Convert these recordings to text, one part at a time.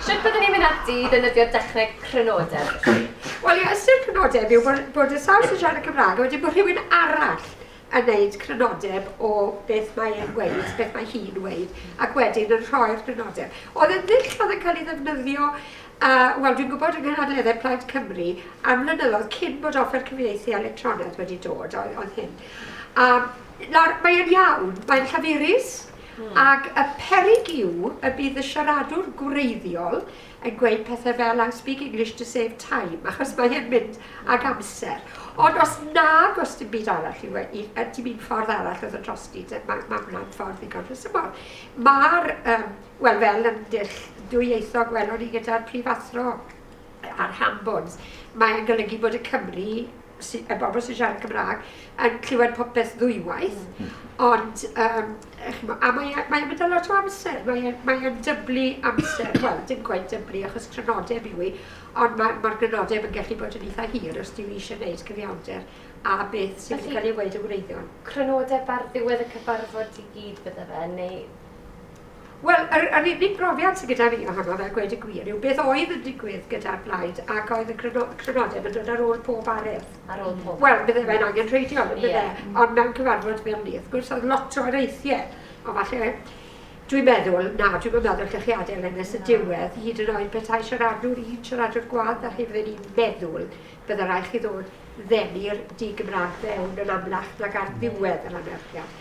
Sut byddwn ni'n mynd ati i ddefnyddio dechneg crynodeb? Wel, ie, ystyr crynodeb yw bod, bod y sawl sy'n siarad y Cymraeg, a wedyn bod rhywun arall yn gwneud crynodeb o beth mae e'n gweud, beth mae hi'n gweud, ac wedyn yn rhoi'r crynodeb. Oedd yn ddull oedd yn cael ei ddefnyddio, uh, wel, dwi'n gwybod yng Nghynadleddau Plaid Cymru, am flynyddoedd cyn bod offer cyfieithu electronaidd wedi dod, oedd, oedd hyn. Um, Nawr, mae e'n iawn, mae'n llaferus, ac y peryg yw y bydd y siaradwr gwreiddiol yn gweud pethau fel 'I speak English to save time', achos mae e'n mynd ag amser. Ond os nag oes dim byd arall i weu-, yy dim un ffordd arall o ddod drosti te, ma' ma' hwnna'n ffordd ddigon rhesymol. Ma'r yym... wel, fel ymgyrch dwyieithog welon ni gyda'r prifathro, a'r ham bones. Mae e'n golygu bod y Cymry, sy, y bobl sy'n siarad Cymraeg, yn clywed popeth ddwywaith, mm. ond um, chimo, a mae'n e, mae e mynd â lot o amser, mae'n e, mae e dyblu amser, wel, dim gwaith dyblu achos crynodeb yw i, ond mae'r ma, ma crynodeb yn gallu bod yn eitha hir os diw eisiau gwneud cyfiawnder a beth sy'n wedi cael ei wneud yn wreiddiol. Crynodeb ar ddiwedd y cyfarfod i gyd bydde fe, neu Wel, yr, yr unig brofiad sydd gyda fi ohono fel gweud y gwir yw beth oedd yn digwydd gyda'r blaid ac oedd y cryno, crynodeb yn dod ar ôl pob aredd. Ar ôl pob. Wel, bydde fe'n angen rheidiol, bydde. Yeah. Ond mewn cyfarfod fel ni, wrth gwrs, oedd lot o areithiau. Ond falle Dwi'n meddwl, na, dwi'n meddwl gallech chi adael yn nes y diwedd, hyd yn oed petai siaradwr un siaradwr gwadd a chi fydden i'n meddwl, bydde rai chi ddod ddeni'r di-Gymraeg fewn yn amlach nag ar ddiwedd yr anerchiad.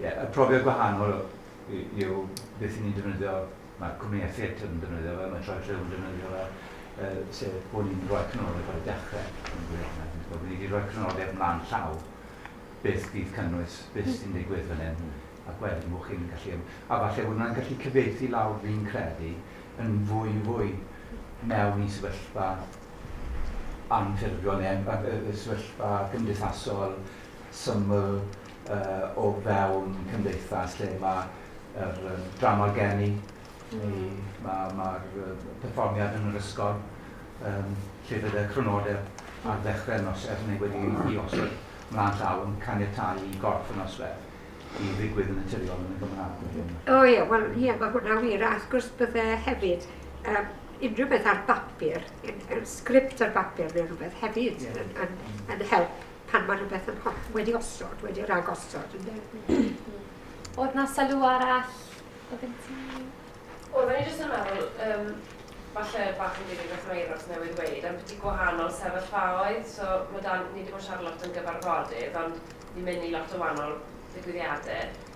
Ie, y profiad gwahanol yw beth 'y ni'n defnyddio, mae'r cwmnïau theatr yn defnyddio fe, mae Troi Rhyw yn defnyddio fe, yy sef bod ni'n rhoi canolig ar y dechrau, yn gwir hwnna, fi'n gwybod, bod ni 'di rhoi canolig mlaen llaw, beth fydd cynnwys, beth sy'n digwydd fan hyn, ac wedyn bod chi'n gallu ym-... A falle bod hwnna'n gallu cyfieithu lawr, fi'n credu, yn fwy fwy mewn i sefyllfa anffurfiol neu yy yy sefyllfa cymdeithasol syml, o fewn cymdeithas lle mae yr yym drama gen i, neu ma' ma'r yy perfformiad yn yr ysgol, yym lle bydd y crynodeb ar ddechrau'r noson neu wedi i osod mlaen llaw yn caniatáu i gorff y nosweth i ddigwydd yn naturiol yn y Gymraeg wedyn. O ie, wel ie, mae hwnna'n wir, a wrth gwrs bydde hefyd yym unrhyw beth ar bapur, yn yn sgript ar bapur neu rhywbeth hefyd yn yn yn help. Pan mae rhywbeth yn holl, wedi osod, wedi ragosod, ynde? Oedd na sylw arall o gen ti? Oedd i jyst yn meddwl, um, falle bach yn dilyn beth mae Euros newydd weid, am beth i gwahanol sefyllfaoedd. So, mae dan, ni wedi bod yn siarad lot yn gyfarfodydd, ond ni'n mynd i lot o wahanol ddigwyddiadau.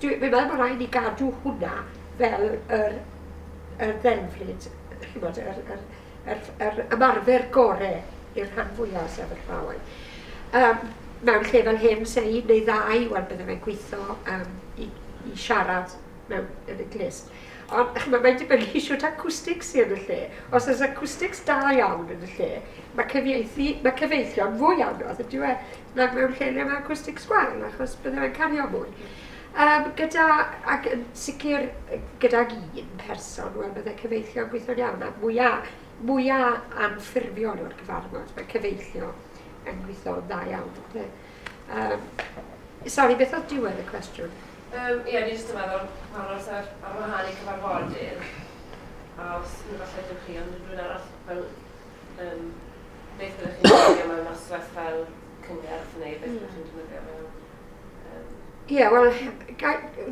Dwi'n meddwl bod rhaid ni gadw hwnna fel yr yr ddelfryd, chimod, yr yr yr yr ymarfer gore i'r rhan fwya' o'r sefyllfaoedd. Yym, mewn lle fel hyn, 'se un neu ddau, wel, bydde fe'n gwitho yym i i siarad mewn yn y glust. Ond, chimod, mae'n dibynnu shwt acwstics sy yn y lle. Os oes acwstics da iawn yn y lle, ma' cyfieithu... ma' cyfeillio'n fwy anodd, yndyw e? nag mewn lle le mae acwstic sgwâr, achos bydde fe'n cario mwy. Um, gyda, ac yn sicr gydag un person, wel bydde cyfeillio yn gweithio'n iawn, a mwyaf, mwyaf anffurfiol o'r cyfarfod, mae cyfeillio yn gweithio'n dda iawn. Bydde. Um, sorry, beth oedd diwedd y cwestiwn? Um, ie, ni jyst yn meddwl pan os ar, ar wahân i cyfarfodydd, a os ni falle ydych chi ond rhywun arall fel Um, beth ydych chi'n defnyddio mewn noswaith fel cyngerdd neu beth ydych chi'n defnyddio mewn... Ie, yeah, wel,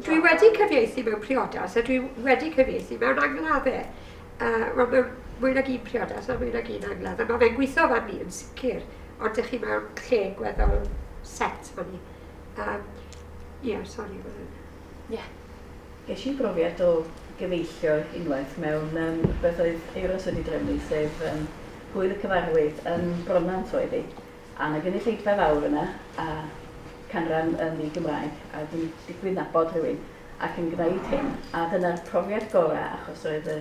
dwi wedi cyfieithu mewn priodas a dwi wedi cyfieithu mewn angladdau. Uh, wel, mewn mwy nag un priodas a mwy nag un angladd, a mae fe'n gweithio fan ni yn sicr, ond ydych chi mewn lle gweddol set fan ni. Um, Ie, yeah, sori. Ie. Yeah. Ges i brofiad o gyfeillio unwaith mewn yym rhywbeth oedd Euros wedi drefnu, sef yym Hwyl y Cyfarwydd yn Bronnant oedd hi, a 'na gynulleidfa fawr yna, a canran yn ddi-Gymraeg, a dwi'n digwydd nabod rhywun ac yn gwneud hyn, a dyna'r profiad gorau achos roedd y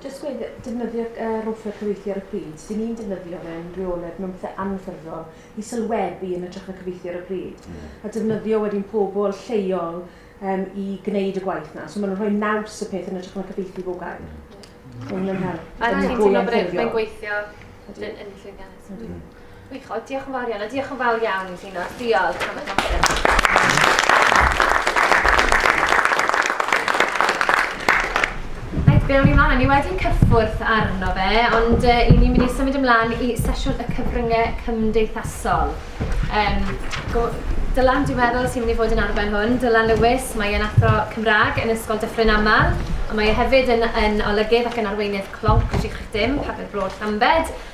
Jyst gweud, defnyddio yy rothwell cyfieithu ar y pryd, 'dyn ni'n defnyddio fe'n reoledd mewn pethe anffurfiol i sylwebu yn ytrach na cyfieithu ar y pryd. Ie. A defnyddio wedyn pobl lleol yym i gneud y gwaith 'na. So ma' nw'n rhoi naws y peth yn ytrach na cyfieithu bob gair. Ie. Ma' hwnna'n help. A ti'n teimlo bod e fe'n gweithio yn yn llwyddiannus? Yndi. Wych, o, diolch yn fawr iawn, a diolch yn fawr iawn i Gino. Diolch am y noson. Be o'n i'n mlaen, ni wedi cyffwrdd arno fe, ond uh, i ni'n mynd i symud ymlaen i sesiwn y cyfryngau cymdeithasol. Um, go, Dylan, dwi'n meddwl, sy'n mynd i fod yn arfer hwn. Dylan Lewis, mae yn athro Cymraeg yn Ysgol Dyffryn Amal, ond mae e hefyd yn, yn olygydd ac yn arweinydd clonc Tri Chrych Dim, Pabell Bro Llambed,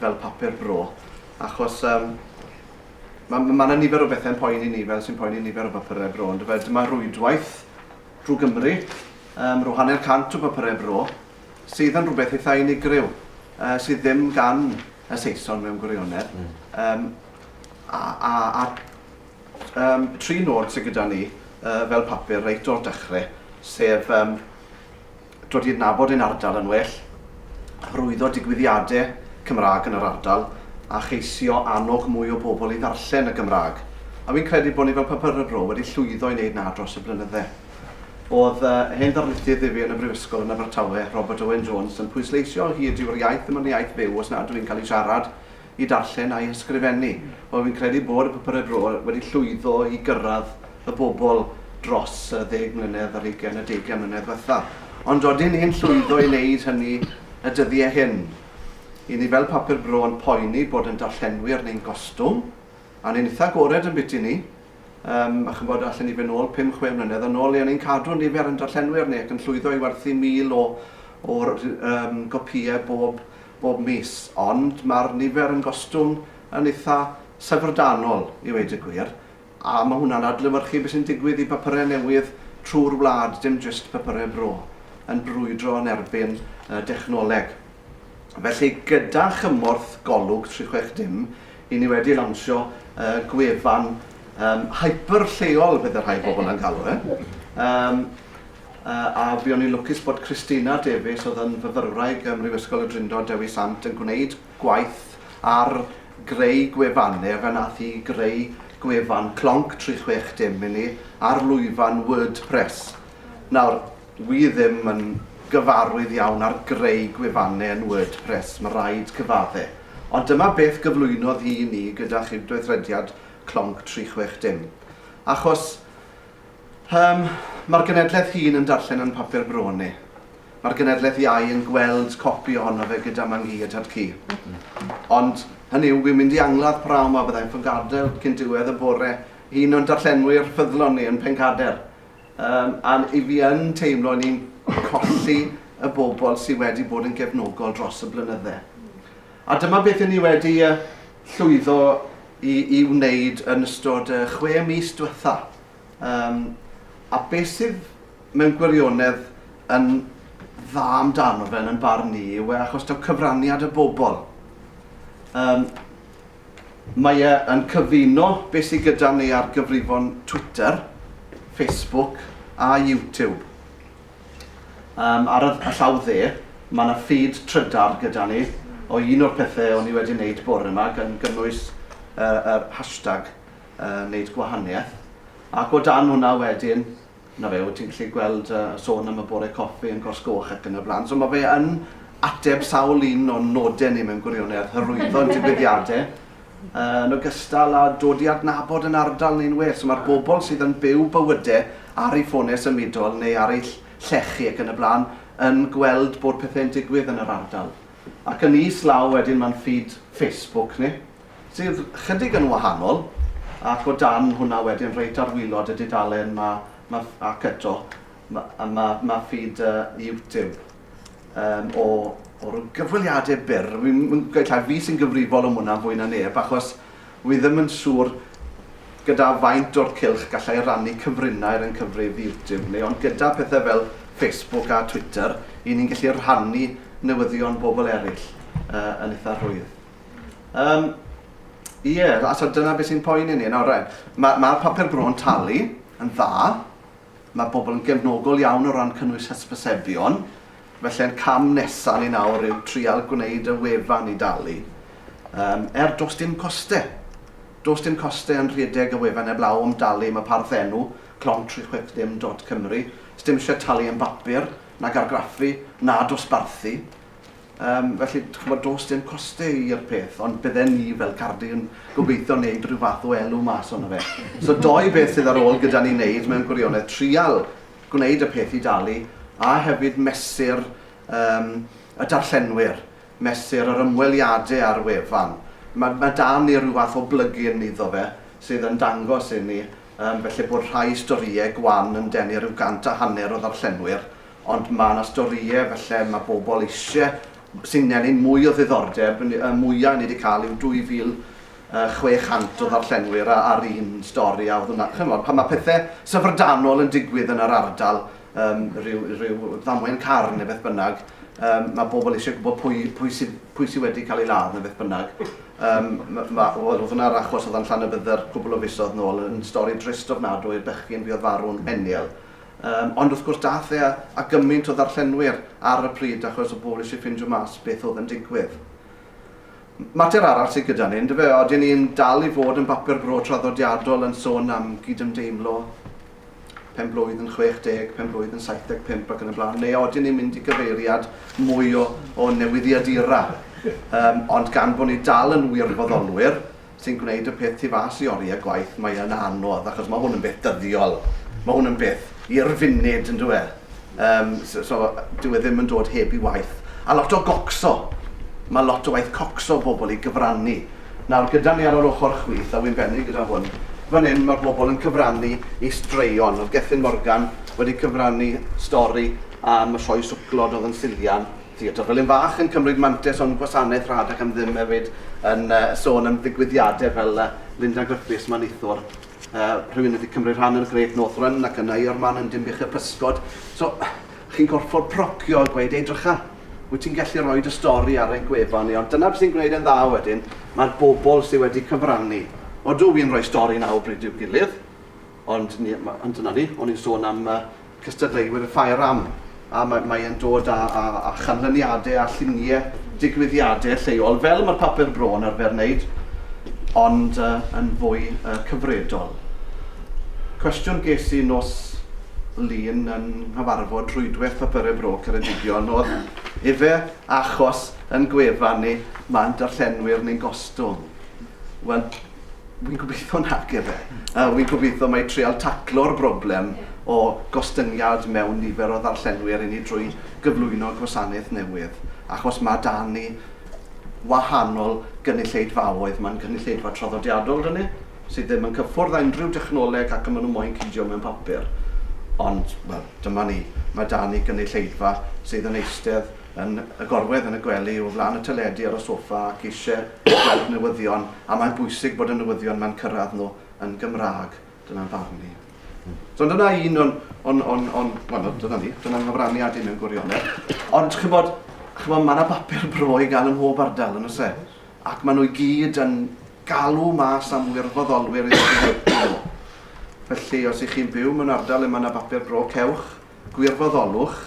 fel papur bro, achos yym ma' ma' ma' 'na nifer o bethe'n poeni ni fel sy'n poeni nifer o bapurau bro on'd yfe? Dyma rwydwaith drwy Gymru yym ro' hanner cant o bapurau bro sydd yn rhywbeth eitha' unigryw yy sydd ddim gan y Saeson mewn gwirionedd yym a a a yym tri nod sy gyda ni yy fel papur reit o'r dechre sef yym Dod i adnabod ein ardal yn well, hyrwyddo digwyddiadau Cymraeg yn yr ardal a cheisio annog mwy o bobl i ddarllen y Gymraeg. A fi'n credu bod ni fel Papur y Bro wedi llwyddo i wneud 'na dros y blynydde. Oedd hen ddarlithydd i fi yn y Brifysgol yn Abertawe, Robert Owen Jones, yn pwysleisio o hyd yw yr iaith ddim ond iaith fyw os nad yw'n cael ei siarad i darllen a'i hysgrifennu. Wel, fi'n credu bod y Papurau Bro wedi llwyddo i gyrraedd y bobl dros y ddeg mlynedd ar hugain, y deugain mlynedd ddiwetha'. Ond odyn ni'n llwyddo i wneud hynny y dyddie hyn? Y'n ni fel Papur Bro yn poeni bod yn darllenwyr ni'n gostwng, a ni'n itha' agored yn biti ni, yym, a ch'mbod, allen ni fynd nôl pum, chwe mlynedd yn ôl, le o'n ni'n cadw nifer yn darllenwyr ni ac yn llwyddo i werthu mil o o'r yym gopïe bob bob mis, ond mae'r nifer yn gostwng yn eitha' syfrdanol i ddweud y gwir, a ma' hwnna'n adlewyrchu be' sy'n digwydd i bapure newydd trwy'r wlad, dim jyst papure Bro yn brwydro yn erbyn y dechnoleg. Felly, gyda chymorth Golwg 360, 'yn ni wedi lawnsio y gwefan yym hyper lleol, fel y rhai bobl yn galw e, yym, A buon ni'n lwcus bod Christina Davies oedd yn fyfyrwraig ym Mhrifysgol y Drindod Dewi Sant yn gwneud gwaith ar greu gwefan, neu efe nath hi greu gwefan clonc tri chwech dim i ni ar lwyfan WordPress. Nawr, wi ddim yn gyfarwydd iawn ar greu gwefane yn WordPress, ma raid cyfadde. Ond dyma beth gyflwynodd hi i ni gyda chydweithrediad clonc tri chwech dim. Achos, Yym, mae'r genedlaeth hŷn yn darllen yn papur bro ni. Mae'r genedlaeth iau yn gweld copi ohono fe gyda Mam Gi a Tad Cu. Ond, hynny yw, wi'n mynd i angladd praw 'ma, bydda i'n ffyngadael cyn diwedd y bore i un o'n darllenwyr ffyddlon ni yn Pencader. Yym, a 'y fi yn teimlo 'yn ni'n colli y bobl sy' wedi bod yn gefnogol dros y blynydde. A dyma beth i ni wedi llwyddo i wneud yn ystod y chwe mis diwetha', a beth sydd mewn gwirionedd yn dda amdano fe yn 'yn barn ni yw e achos taw cyfraniad y bobl. Mae e yn cyfuno beth sy gyda ni ar gyfrifon Twitter, Facebook a YouTube. Yym ar y y llaw dde, ma' 'na feed trydar gyda ni o un o'r pethe o'n i wedi neud bore 'ma gan gynnwys y yr hashtag yy neud gwahanieth ac o dan hwnna wedyn 'na fe wyt ti'n gallu gweld yy sôn am y bore coffi yn Cors Goch ac yn y bla'n so ma' fe yn ateb sawl un o'n node ni mewn gwirionedd, hyrwyddo ein digwyddiade yn ogystal â dod i adnabod yn ardal neu'n well. So mae'r bobl sydd yn byw bywyde ar ei ffonau symudol neu ar ei llechi ac yn y blaen yn gweld bod pethau'n digwydd yn yr ardal. Ac yn is law wedyn mae'n ffid Facebook ni, sydd chydig yn wahanol, ac o dan hwnna wedyn reit ar wylod y dudalen mae, mae, ac eto, mae, mae, mae ffid uh, YouTube. um, o, o'r gyfweliadau byr. Mi'n gweud llaw, fi sy'n gyfrifol am hwnna fwy na neb, achos wy ddim yn siŵr gyda faint o'r cilch gallai rannu cyfrinau ar ein cyfrifiadur ni, ond gyda pethau fel Facebook a Twitter, i ni'n gallu rhannu newyddion bobl eraill uh, yn eitha rhwydd. Um, Ie, yeah, so dyna beth sy'n poen i ni. Nawr, mae'r ma, ma papur bro'n talu yn dda, Mae pobl yn gefnogol iawn o ran cynnwys hysbysebion, felly'r cam nesaf ni nawr yw trial gwneud y wefan i dalu. Yym, er does dim coste. Does dim coste yn rhedeg y wefan heblaw am dalu am y parth enw, clonc tri chwech dim dot cymru. Sdim isie talu am bapur, nag argraffu, na dosbarthu. Yym, felly, dych ch'mod, does dim coste i'r peth, ond bydden ni fel Cardi yn gobeithio wneud rhyw fath o elw mas ono fe. So dou beth sydd ar ôl gyda ni wneud mewn gwirionedd, trial gwneud y peth i dalu, a hefyd mesur yym y darllenwyr, mesur yr ymweliadau ar wefan. Ma' ma' 'da ni ryw fath o blyg-in iddo fe sydd yn dangos inni yym felly bod rhai storïau gwan yn denu ryw gant a hanner o ddarllenwyr, Ond mae 'na storïau falle mae bobl eisiau, sy'n ennyn mwy o ddiddordeb, y mwyaf ni 'di cael yw 2,600 o ddarllenwyr ar un stori a oedd hwnna, chimod, pan mae pethe syfrdanol yn digwydd yn yr ardal, yym ryw ryw ddamwain car neu beth bynnag, yym mae bobl eisiau gwybod pwy pwy sy pwy sy wedi cael ei ladd neu beth bynnag. Yym ma' ma' wel oedd hwnna'r achos oedd yn Llanybydder cwpl o fisoedd nôl yn stori drist ofnadwy, bechgyn buodd farw'n heniel. Yym, ond wrth gwrs dath e a gymaint o ddarllenwyr ar y pryd achos o bobl eisiau ffindio mas beth oedd yn digwydd. Mater arall sydd gyda ni, yndyfe, odyn ni'n dal i fod yn bapur bro traddodiadol yn sôn am gydymdeimlo, penblwydd yn 60, penblwydd yn 75 ac yn y blaen, neu odyn ni'n mynd i gyfeiriad mwy o, o newyddiadura? Yym, ond gan bod ni dal yn wirfoddolwyr, sy'n gwneud y peth tu fas i oriau gwaith, mae yn anodd, achos mae hwn yn beth dyddiol. Mae hwn yn beth i'r funud, yn dyw e? Um, so, so, dyw e ddim yn dod heb i waith. A lot o gocso. Mae lot o waith cocso bobl i gyfrannu. Nawr, gyda ni ar yr ochr chwith, a wy'n bennu gyda hwn, fan hyn mae bobl yn cyfrannu i straeon. Oedd Gethin Morgan wedi cyfrannu stori am y sioe swclod oedd yn Sillian, Theatr Felin Fach yn cymryd mantais o'n gwasanaeth rhad ac am ddim hefyd yn sôn am ddigwyddiadau fel Linda Griffiths, Maneithwr, rhywun wedi cymryd rhan yn y Great North Run ac yna i o'r man yn Dinbych-y Pysgod. So, chi'n gorfod procio a gweud, edrycha, wyt ti'n gallu rhoi dy stori ar ein gwefan ni, ond dyna beth sy'n gwneud e'n dda wedyn, mae'r bobl sydd wedi cyfrannu. Odw, wi'n rhoi stori nawr bryd i'w gilydd, ond dyna ni, o'n i'n sôn am cystadleuwyr y Ffair am, a mae mae e'n dod â â â chanlyniade a llunie digwyddiade lleol, fel ma'r papur bro yn arfer neud, ond yy yn fwy yy cyfredol. Cwestiwn ges i nos Lun yn nghyfarfod rhwydweth Papure Bro Ceredigion o'dd, ife achos yn gwefan ni ma'n darllenwyr ni'n gostwng? Wel, Wi'n gobeithio nac ife. Yy wi'n gobeithio mai treial taclo'r broblem o gostyngiad mewn nifer o ddarllenwyr i ni drwy gyflwyno gwasanaeth newydd, achos ma' 'da ni wahanol gynulleidfaoedd, ma'n gynulleidfa traddodiadol 'da ni, sydd ddim yn cyffwrdd â unrhyw dechnoleg ac a ma' nhw moyn cydio mewn papur. Ond, wel, dyma ni, ma' 'da ni gynulleidfa sydd yn eistedd yn y gorwedd, yn y gwely, o flaen y teledu, ar y soffa ac eisiau gweld newyddion a mae'n bwysig bod y newyddion mae'n cyrraedd nhw yn Gymraeg. Dyna'n farn ni. So dyna un o'n, on, on, on, well, dyna ni, dyna'n nghyfraniad i mewn gwirionedd. Ond chybod, chybod mae yna bapur bro i gael ym mhob ardal yn ose. Ac maen nhw i gyd yn galw mas am wirfoddolwyr i ddod nhw. Felly, os ych chi'n byw mewn ardal lle mae yna bapur bro, cewch gwirfoddolwch